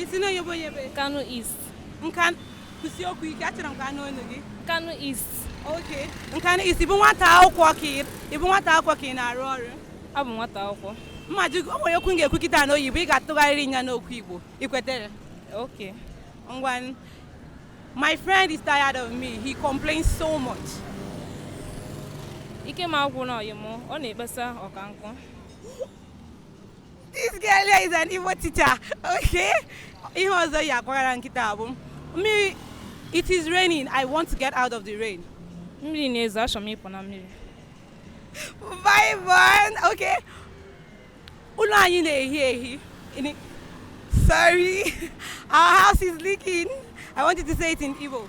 i si n'onye ebe onye ebe nkanu east nka kwusie okwu ike achọrọ m ka a nụ olu gị nkanu east okay nkanu east ị bụ nwata akwụkwọ ka ị ị bụ nwata akwụkwọ ka ị na-arụ ọrụ abụ m nwata akwụkwọ mma jụ o nwere okwu m ga-ekwu kịta na oyibo ị ga-atụgharịrị ya n'okwu igbo ị kwetere okay ngwa my friend is tired of me he complains so much ike m agwụna ọyị m ọ na-ekpesa ọka nkụ This girl here is an Igbo teacher. Okay. Ihe ọzọ ị ga-akọwara m kịta bụ mmiri it is raining I want to get out of the rain. Mmiri na-ezo achọ m ịpụ na mmiri. Bye bye. Okay. Ụlọ anyị na-ehi ehi. Sorry. Our house is leaking. I wanted to say it in Igbo.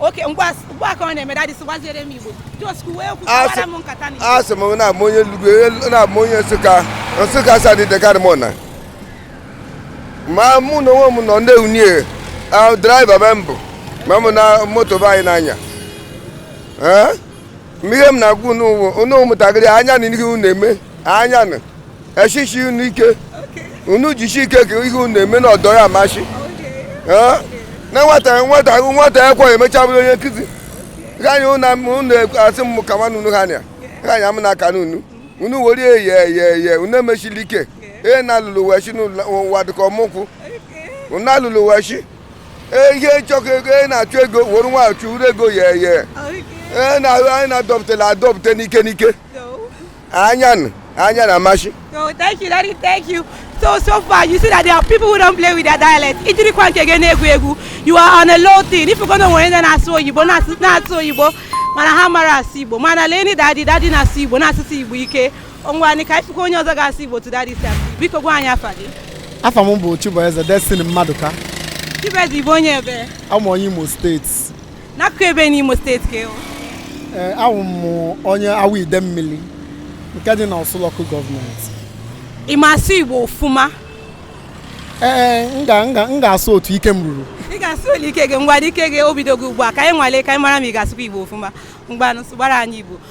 okay mgbe a ka ọ na-eme daddy sụwaziere m igbo just kwuwe okwu kọwara m nkata na asị m na m bụ onye enugwu na m bụ onye nsụka nsụka asadụ ideke arụmọna ma mụ n'onwe m nọ ndị union driver be m bụ ma mụ na moto be anyị na-anya mgbe ihe m na-agwa unu ụwa unu ụmụntakịrị anya na ihe unu na-eme anya na echichi unu ike unu jichi ike ka ihe unu na-eme na ọdọ ya amasị Ee, na nwata nwata nwata ekwe emecha bụrụ onye nkụzi ganye unu asị m ka nwanne unu ha nya ganye m na aka n'unu unu were eye eye eye unu emechili ike ee na alụlụ wechi n'ụwa dịka ọmụkwụ unu alụlụ wechi e, ihe nchọkọ ego ị na-achụ ego were nwachụ uru ego ya eye e, anyị na-adọpụtala adọpụta n'ike n'ike anya anya na amashi so thank you daddy thank you so so far you see that there are people who don't play with their dialect i jirikwa nke gị na-egwu egwu you are on a long thing if you go na e nwere ndị na-asụ oyibo na-asụ oyibo mana ha mara asụ igbo mana lee ndị daddy daddy na-asụ igbo na-asụsi igbo ike Ngwa anyị ka anyị fụkwa onye ọzọ ga-asụ Igbo tụdara isi asụ. Biko gwa anyị afa gị. Afa m bụ Chibueze Destiny Mmadụka. Chibueze Igbo onye ebe? Abụ m onye Imo steeti. N'akụkụ ebe n'Imo steeti ka ị wụ? Ee, eh, awụ m onye Awọ Idemmili nke dị na Orsu local government. Ị ma asụ Igbo ọfụma? Ee, eh, eh, m ga-asụ otu ike m ruru. Ị ga-asụ ole ike gị ngwa ike gị obido gị ugbu a ka anyị nwalee ka anyị mara ma ị ga-asụkwa Igbo ọfụma. Ngwanụ sụbara anyị Igbo.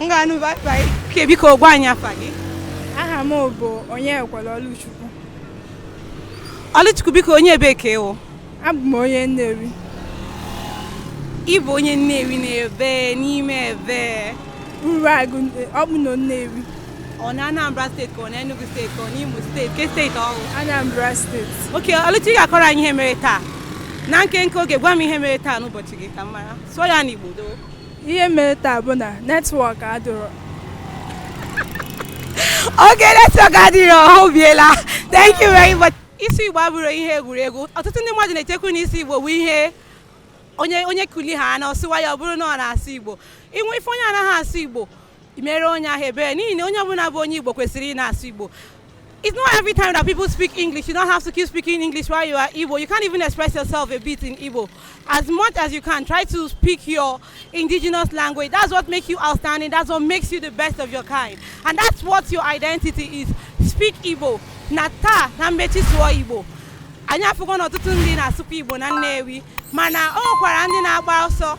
m ga-anụ bye Okay biko gwa anyị afa gị. aha m bụ onyekwere ọlụchukwu Ọlụchukwu biko onye ebe ka ị wụ. abụ m onye nnewi Ị bụ onye Nnewi n'ebe n'ime ebe. uruagụ ọ bụ na nnewi Ọ na Anambra steeti ka ọ na Enugu steeti ka ọ na Imo steeti ke steeti ọ wụ. anambra steeti Okay Ọlụchi ị ga-akọrọ anyị ihe mere taa. Na nkenke oge gwa m ihe mere taa n'ụbọchị gị ka m mara. Sụọ ya n'Igbo doo. ihe mere taa bụ na netwọk adịrọ oke netwọk adịrọ ha obiela thank you very much ịsụ igbo abụrọ ihe egwuregwu ọtụtụ ndị mmadụ na-echekwu na ịsụ igbo bụ ihe onye onye kuli ha na ọ sụwa ya ọ bụrụ na ọ na-asụ igbo inwe ị fụ onye anaghị asụ igbo mere onye ahụ ebere n'ihi na onye ọbụla bụ onye Igbo kwesịrị ị na-asụ Igbo it's not every time that people speak English. You don't have to keep speaking English while you are Igbo. You can't even express yourself a bit in Igbo. As much as you can, try to speak your indigenous language. That's what makes you outstanding. That's what makes you the best of your kind. And that's what your identity is. Speak Igbo. Nata na mmechi sụọ Igbo. Anyị afụgo na ọtụtụ ndị na-asụkwa Igbo na Nnewi mana o nwekwara ndị na-agba ọsọ